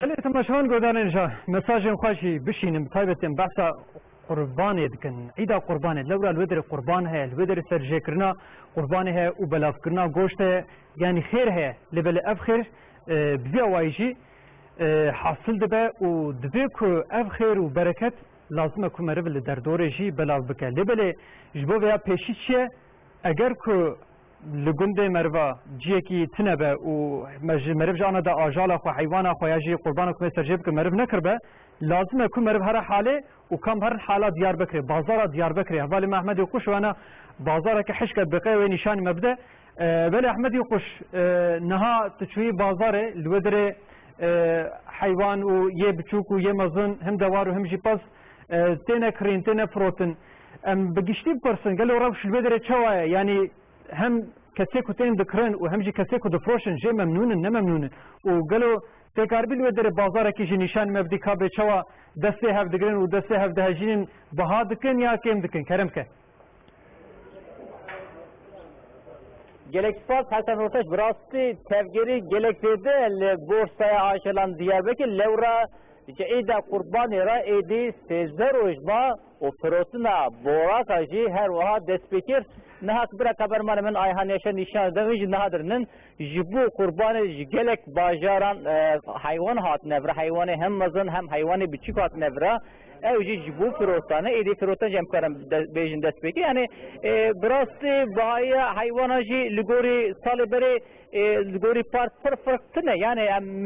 Gelê temaşevan godanê nija mesajên xwe jî bişînin bi taybetî em behsa qurbanê dikin. Îda qurbanê lewra li wê derê qurban heye, li wê derê serjêkirina qurbanê heye û belavkirina goşt heye. Yanî xêr heye lê belê ev xêr bi vî awayî jî hasil dibe û divê ku ev xêr û bereket lazim e ku meriv li derdorê jî belav bike. Lê belê ji bo vêya pêşî çi ye? Eger ku Li gundê meriva ciyekî tune be û me ji meriv ji ana de ajala xwe, heywana xwe ya jî qurbana ku me serjê bikin meriv nekiribe, lazim e ku meriv here halê û kam herin hala Diyarbekirê, bazara Diyarbekirê, hevalê me Ehmedî Quş wena bazareke hişk e bi qey wê nîşanî me bide. Belê Ehmedî Quş niha tu çûyî bazarê li we derê heywan û yê biçûk û yê mezin him dewar û him jî pez Têne kirîn, têne firotin. Em bi giştî bipirsin gelo rewş li vê derê çawa ye? Yanî hem kesê ku tên dikirin û hem jî kesê ku difiroşin jê memnûn in, ne memnûn in? Û gelo têkaribî li wê derê bazarekî jî nîşan me bidî ka bê çawa dest pê hev digirin û dest pê hev dihejînin, biha dikin ya kêm dikin? Kerem ke. Gelek spas Hesen Roteş bi rastî tevgerî gelek zêde li borsaya ajelan Diyarbekir lewra ji êda qurbanê re êdî sêzdeh roj ma û firotina boraka jî her wiha destpêkir. Niha qibira kamermanê min Ayhan Yaşar nîşan dide wî jî niha dirinin. Ji bo qurbanê ji gelek bajaran heywan hatine vir, heywanê hem mezin hem heywanê biçûk hatine vir. Ew jî ji bo firotan e, êdî firotan jî em karin bêjin destpêkê. Yanî bi rastî bihayiya heywanan jî li gorî salê berê li gorî park pir firq tune. Yanî em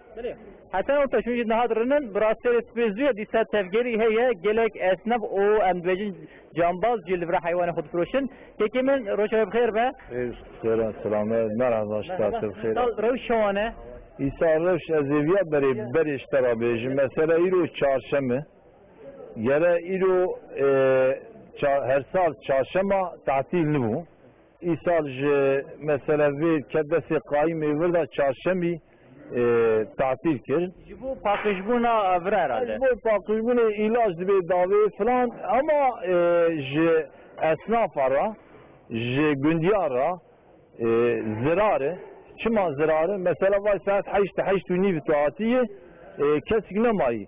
Heta ew pejû jî niha dirinin, bi rastî re spêzûya dîsa tevgerî heye, gelek esnaf û em dibêjin cambaz jî li vir heywanên xwe difiroşin. Kekê min roja wê bi xêr be. Rêz bi xêr e, selame, merhaba ji te te bi xêr e. Îsal rewş çawan e? Îsal rewş ez ê viya berê berê ji te re bêjim. Mesela îro çarşem e, gere îro her sal çarşema tetîl nibû, Îsal ji mesela vê kerdesê qayîm ê wir de çarşemî tatîl kir. Ji bo paqijbûna vir herhalde. Ji bo paqijbûnê îlac dibê davê filan ama ji esnafa re ji gundiya re zirar e. Çima zirar e? Mesela vay saet heşt, heşt û nîv tu hatiyê kesik nemayî.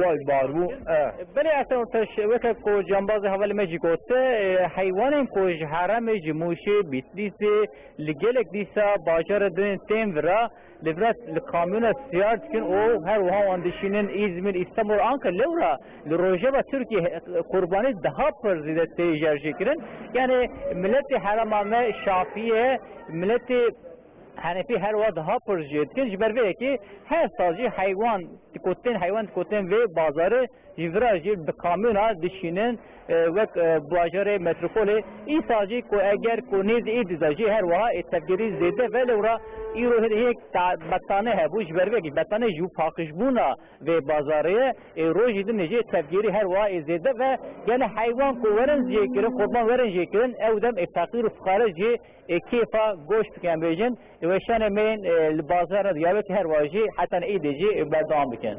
Wayb bar bû e. Belê ez tev teş weke ku cambazê hevalê me jî got heywanên ku ji heremê ji Mûşê, Bîtlîsê li gelek dîsa bajarê didin tên vir e lê vir e li kamyona siyar dikin û her wiha wan dişînin Îzmîr, Îstanbul, Ankara lewra li rojeva Tirkiyê qurbanî daha pir zêde tê jerjêkirin. Yanî miletê herema me şafî ye, miletê Henefî her wiha diha pir jê dikin, ji ber vê yekê her sal jî heywan dikotên heywan dikotên vê bazarê ji vir a jî bi kamyona dişînin wek bajarê metropolê. Îsal jî ku eger ku nêz ê dîza jî her wiha ê tevgerî zêde be lewra îro hêdî hêk betane hebû ji ber vê yekê betane ji paqijbûna vê bazarê ye ê rojî din jî ê tevgerî her wiha ê zêde be gelê heywan ku werin jê kirin qurban werin jê kirin ew dem ê feqîr û fiqare jê Ê kêfa goşt dike em bêjin. Ê weşanê me yên li bazar re diyar be ki her wajî heta ne îdê jî berdewam dikin.